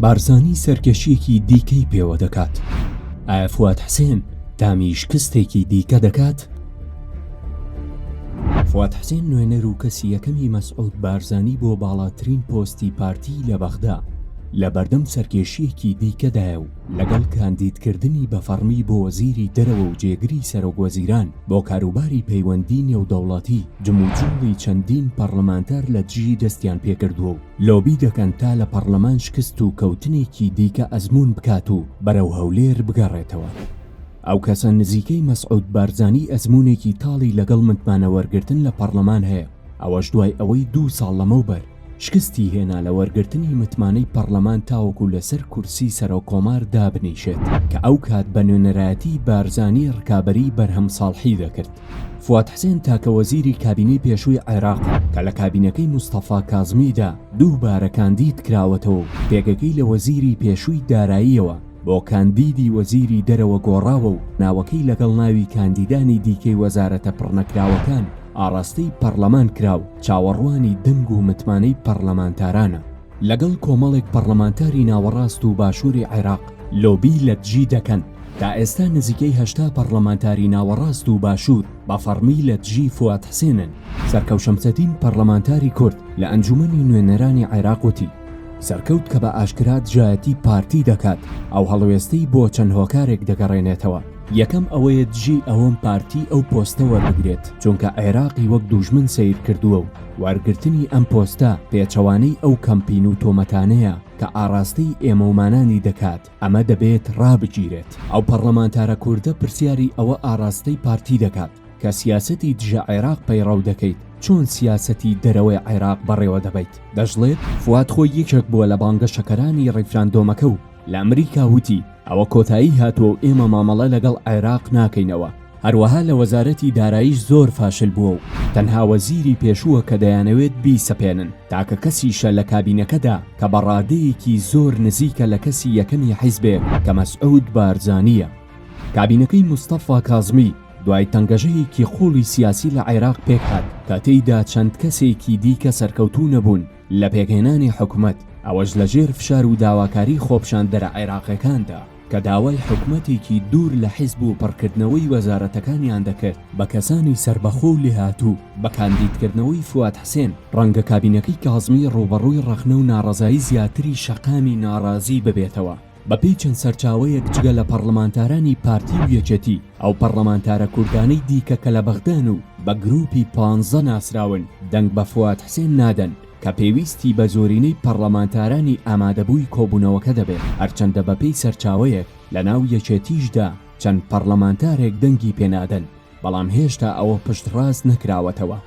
بارزانی سەرکەشیەکی دیکەی پێوە دەکات ئایا فواد حسێن تامی شکستێکی دیکە دەکات؟ فواد حسێن نوێنەر و کەسی یەکەمی مەسعود بارزانی بۆ باڵاترین پۆستی پارتی لە بەغدا لە بەردەم سەرکێشیەکی دیکەدایە و لەگەڵ کاندیدکردنی بە فەڕمی بۆ وەزیری دەرەوە و جێگری سەرۆک وەزیران بۆ کاروباری پەیوەندی نێودەوڵەتی، جموجوڵی چەندین پەڕڵەمانتار لە دژی دەستیان پێکردووە و لۆبی دەکەن تا لە پەڕڵەمان شکست و کەوتنێکی دیکە ئەزموون بکات و بەرەو هەولێر بگەڕێتەوە. ئەو کەسە نزیکەی مەسعود بارزانی ئەزموونێکی تاڵی لەگەڵ متمانەوەرگرتن لە پەڕڵەمان هەیە، ئەوەش دوای ئەوەی دوو ساڵ لەمەوبەر، شکستی هێنا لە وەرگرتنی متمانەی پەڕلەمان تاوەکو لەسەر کورسی سەرۆک کۆمار دابنیشێت کە ئەو کات بە نوێنەرایەتی بارزانی ڕکابەری بەرهەم ساڵحی دەکرد. فواد حسێن تاکە وەزیری کابینەی پێشووی عێراقە کە لە کابینەکەی مستەفا کازمیدا دووبارە کاندید کراوەتەوە و پێگەکەی لە وەزیری پێشووی داراییەوە بۆ کاندیدی وەزیری دەرەوە گۆڕاوە و ناوەکەی لەگەڵ ناوی کاندیدانی دیکەی وەزارەتە پڕنەکراوەکان ئاڕاستەی پەڕلەمان کرا و چاوەڕوانی دەنگ و متمانەی پەڕلەمانتارانە. لەگەڵ کۆمەڵێک پەڕلەمانتاری ناوەڕاست و باشووری عێراق لۆبی لە دژی دەکەن. تا ئێستا نزیکەی هەشتا پەڕلەمانتاری ناوەڕاست و باشوور بە فەڕمی لە دژی فوئاد حسێنن. سەرکەوت شەمسەدین پەڕلەمانتاری کورد لە ئەنجوومەنی نوێنەرانی عێراق وتی، سەرکەوت کە بە ئاشکرا دژایەتی پارتی دەکات، ئەو هەڵوێستەی بۆ چەند هۆکارێک دەگەڕێنێتەوە. یەکەم ئەوەیە دژی ئەوەم پارتی ئەو پۆستە وەربگرێت چونکە عێراقی وەک دووژمن سەیر کردووە و وەرگرتنی ئەم پۆستە پێچەوانەی ئەو کەمپین و تۆمەتانەیە کە ئاڕاستەی ئێمەومانانی دەکات ئەمە دەبێت ڕابگیرێت ئەو پەڕلەمانتارە کوردە پرسیاری ئەوە ئاڕاستەی پارتی دەکات کە سیاسەتی دژە عێراق پەیڕەو دەکەیت چۆن سیاسەتی دەرەوەی عێراق بەڕێوە دەبەیت دەشڵێت فواد خۆی یەکێک بووە لە بانگەشەکەرانی ڕیفراندۆمەکە و لە ئەمریکا وتی ئەوە کۆتایی هاتووە و ئێمە مامەڵە لەگەڵ عێراق ناکەینەوە، هەروەها لە وەزارەتی داراییش زۆر فاشل بووە و تەنها وەزیری پێشووە کە دەیانەوێت بیسەپێنن، تاکە کەسیشە لە کابینەکەدا کە بە ڕادەیەکی زۆر نزیکە لە کەسی یەکەمی حیزبێ کە مەسعود بارزانییە. کابینەکەی مستەفا کازمی دوای تەنگەژەیەکی قووڵی سیاسی لە عێراق پێکهات کە تێیدا چەند کەسێکی دیکە سەرکەوتوو نەبوون، لە پێکهێنانی حکومەت، ئەوەش لە ژێر فشار و داواکاری خۆپیشاندەرە عێراقیەکاندا کە داوای حکومەتێکی دوور لە حیزب و پڕکردنەوەی وەزارەتەکانیان دەکرد بە کەسانی سەربەخۆ و لێهاتوو، بە کاندیدکردنەوەی فواد حسێن، ڕەنگە کابینەکەی کازمی ڕووبەڕووی ڕەخنە و ناڕەزایی زیاتری شەقامی ناڕازی ببێتەوە. بەپێی چەند سەرچاوەیەک جگە لە پەڕڵەمانتارانی پارتی و یەکێتی، ئەو پەڕڵەمانتارە کوردانەی دیکە کە لە بەغدان و بە گرووپی پانزە ناسراون، دەنگ بە فواد حسێن نادەن، کە پێویستی بە زۆرینەی پەڕڵەمانتارانی ئامادەبووی کۆبوونەوەکە دەبێت، هەرچەندە بەپێی سەرچاوەیەک لەناو یەکێتیشدا چەند پەڕڵەمانتارێک دەنگی پێنادەن. بەڵام هێشتا ئەوە پشتڕاست نەکراوەتەوە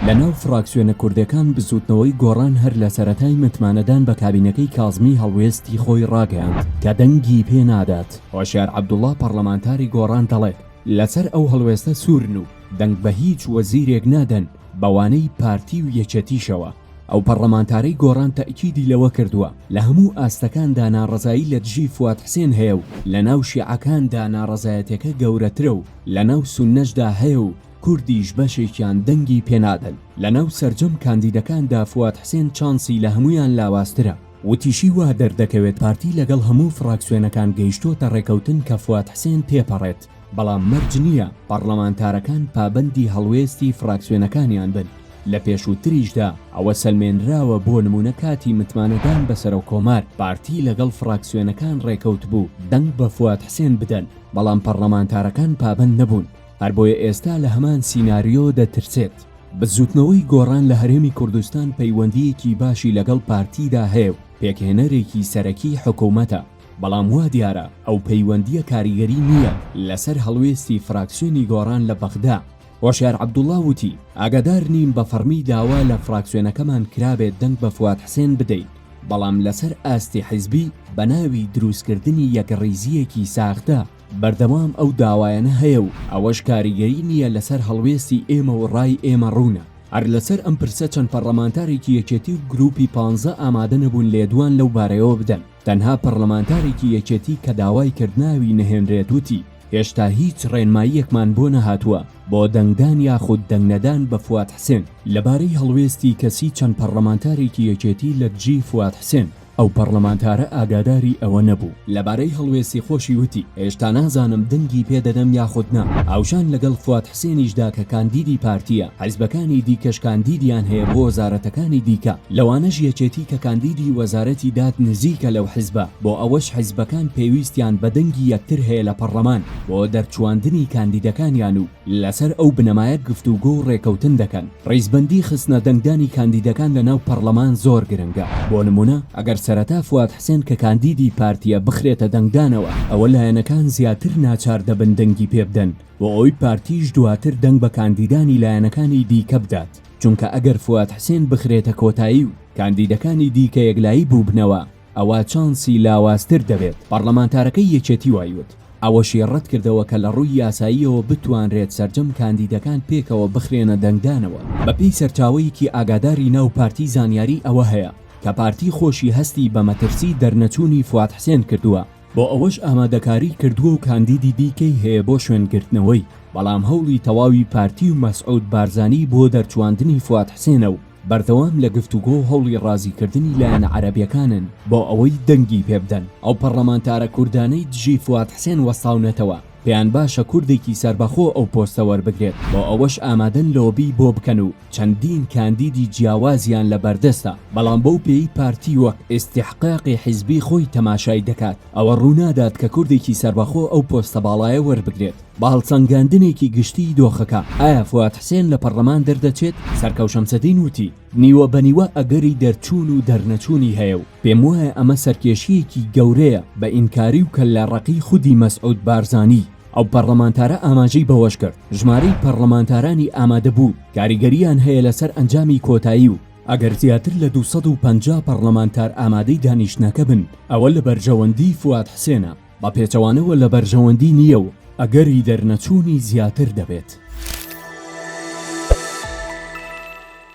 لەناو فراکسیۆنە کوردەکان بزوتنەوەی گۆڕان هەر لە سەرەتای متمانەدان بە کابینەکەی کازمی هەڵوێستی خۆی ڕاگەیاند کە دەنگی پێ نادات. هۆشیار عەبدوڵا پەڕلەمانتاری گۆڕان دەڵێت لەسەر ئەو هەڵوێستە سوورن و دەنگ بە هیچ وەزیرێک نادەن بەوانەی پارتی و یەکێتیشەوە. ئەو پەڕڵەمانتارەی گۆڕان تەئکیدی لەوە کردووە، لە هەموو ئاستەکاندا ناڕەزایی لە دژی فواد حسێن هەیە و لە ناو شیعەکاندا ناڕەزایەتیەکە گەورەترە و لە ناو سوننەشدا هەیە و کوردیش بەشێکیان دەنگی پێنادەن، لە ناو سەرجەم کاندیدەکاندا فواد حسێن چانسی لە هەموویان لاوازترە. وتیشی وا دەردەکەوێت پارتی لەگەڵ هەموو فڕاکسیۆنەکان گەیشتووەتە ڕێکەوتن کە فواد حسێن تێپەڕێت، بەڵام مەرج نییە پەڕڵەمانتارەکان پابەندی هەڵوێستی فڕاکسیۆنەکانیان بن، لە پێشووتریشدا ئەوە سەلمێنراوە بۆ نموونە کاتی متمانەدان بە سەرۆککۆمار پارتی لەگەڵ فڕاکسیۆنەکان ڕێکەوتبوو دەنگ بە فواد حسێن بدەن بەڵام پەڕڵەمانتارەکان پابەند نەبوون هەر بۆیە ئێستا لە هەمان سیناریۆ دەترسێت بزووتنەوەی گۆڕان لە هەرێمی کوردستان پەیوەندییەکی باشی لەگەڵ پارتیدا هەیە و پێکهێنەرێکی سەرەکی حکوومەتە. بەڵام وا دیارە ئەو پەیوەندییە کاریگەری نییە لەسەر هەڵوێستی فراکسیۆنی گۆڕان لە بەغدا. هۆشیار عەبدوڵڵا وتی، ئاگادار نیم بە فەڕمی داوا لە فراکسیۆنەکەمان کرابێت دەنگ بە فواد حسێن بدەین، بەڵام لەسەر ئاستی حیزبی بە ناوی دروستکردنی یەکڕیزییەکی ساختە بەردەوام ئەو داوایانە هەیە و ئەوەش کاریگەری نییە لەسەر هەڵوێستی ئێمە و ڕای ئێمە ڕوونە. هەر لەسەر ئەم پرسە چەند پەڕڵەمانتارێکی یەکێتی و گرووپی پانزە ئامادە نەبوون لێدوان لەو بارەیەوە بدەن. تەنها پەڕلەمانتارێکی یەکێتی کە داوای کرد ناوی نەهێنرێت وتی، هێشتا هیچ ڕێنماییەکمان بۆ نەهاتووە بۆ دەنگدان یاخود دەنگنەدان بە فواد حسێن لەبارەی هەڵوێستی کەسی چەند پەڕلەمانتارێکی یەکێتی لە دژی فواد حسێن، ئەو پەڕلەمانتارە ئاگاداری ئەوە نەبوو. لەبارەی هەڵوێستی خۆشی وتی، هێشتا نازانم دەنگی پێدەدەم یاخود نا، هاوشان لەگەڵ فواد حسێنیش دا کە کاندیدی پارتییە، حزبەکانی دیکەش کاندیدیان هەیە بۆ وەزارەتەکانی دیکە، لەوانەش یەکێتی کە کاندیدی وەزارەتی داد نزیکە لەو حزبە، بۆ ئەوەش حزبەکان پێویستیان بە دەنگی یەکتر هەیە لە پەڕڵەمان بۆ دەرچواندنی کاندیدەکانیان و لەسەر ئەو بنەمایە گفتوگۆ و رێکەوتن دەکەن. ریزبەندی خستنە دەنگدانی کاندیدەکان لە ناو پەڕڵەمان زۆر گرنگە. بۆ نموونە ئەگەر سەرەتا فواد حسێن کە کاندیدی پارتییە بخرێتە دەنگدانەوە، ئەوە لایەنەکان زیاتر ناچار دەبن دەنگی پێبدەن، بۆ ئەوەی پارتیش دواتر دەنگ بە کاندیدانی لایەنەکانی دیکە بدات، چونکە ئەگەر فواد حسێن بخرێتە کۆتایی و کاندیدەکانی دیکە یەکلایی بووبنەوە ئەوا چانسی لاوازتر دەبێت، پەڕلەمانتارەکەی یەکێتی وای وت. ئەوەشی ڕەتکردەوە کە لە ڕووی یاساییەوە بتوانرێت سەرجەم کاندیدەکان پێکەوە بخرێنە دەنگدانەوە. بەپێی سەرچاوەیەکی ئاگاداری ناو پارتی زانیاری ئەوە هەیە کە پارتی خۆشی هەستی بە مەترسی دەرنەچوونی فواد حسێن کردووە، بۆ ئەوەش ئامادەکاری کردووە و کاندیدی دیکەی هەیە بۆ شوێنگرتنەوەی، بەڵام هەوڵی تەواوی پارتی و مەسعود بارزانی بۆ دەرچواندنی فواد حسێنە و بەردەوام لە گفتوگۆ و هەوڵی ڕازیکردنی لایەنە عەرەبیەکانن بۆ ئەوەی دەنگی پێبدەن. ئەو پەڕلەمانتارە کوردانەی دژی فواد حسێن وەستاونەتەوە، پێیان باشە کوردێکی سەربەخۆ ئەو پۆستە وەربگرێت، بۆ ئەوەش ئامادەن لۆبی بۆ بکەن و چەندین کاندیدی جیاوازیان لە بەردەستە، بەڵام بەو پێیەی پارتی وەک ئیستیحقاقی حیزبی خۆی تەماشای دەکات، ئەوە ڕوونادات کە کوردێکی سەربەخۆ ئەو پۆستە باڵایە وەربگرێت. بە هەڵسەنگاندنێکی گشتیی دۆخەکە، ئایا فواد حسێن لە پەڕڵەمان دەردەچێت؟ سەرکەو شەمسەدین وتی، نیوە بە نیوە ئەگەری دەرچوون و دەرنەچوونی هەیە و، پێموایە ئەمە سەرکێشییەکی گەورەیە بە ئینکاری و کەللە ڕەقی خودی مەسعود بارزانی، ئەو پەڕڵەمانتارە ئاماژەی بەوەشکرد، ژمارەی پەڕڵەمانتارانی ئامادەبوو کاریگەرییان هەیە لەسەر ئەنجامی کۆتایی و ئەگەر زیاتر لە دوو سەد و پەنجا پەڕڵەمانتار ئامادەی دانیشتنەکە بن ئەوە لە بەرژەوەندی فواد حسێنە بە پێچەوانەوە لە بەرژەوەندی نییە و ئەگەری دەرنەچوونی زیاتر دەبێت.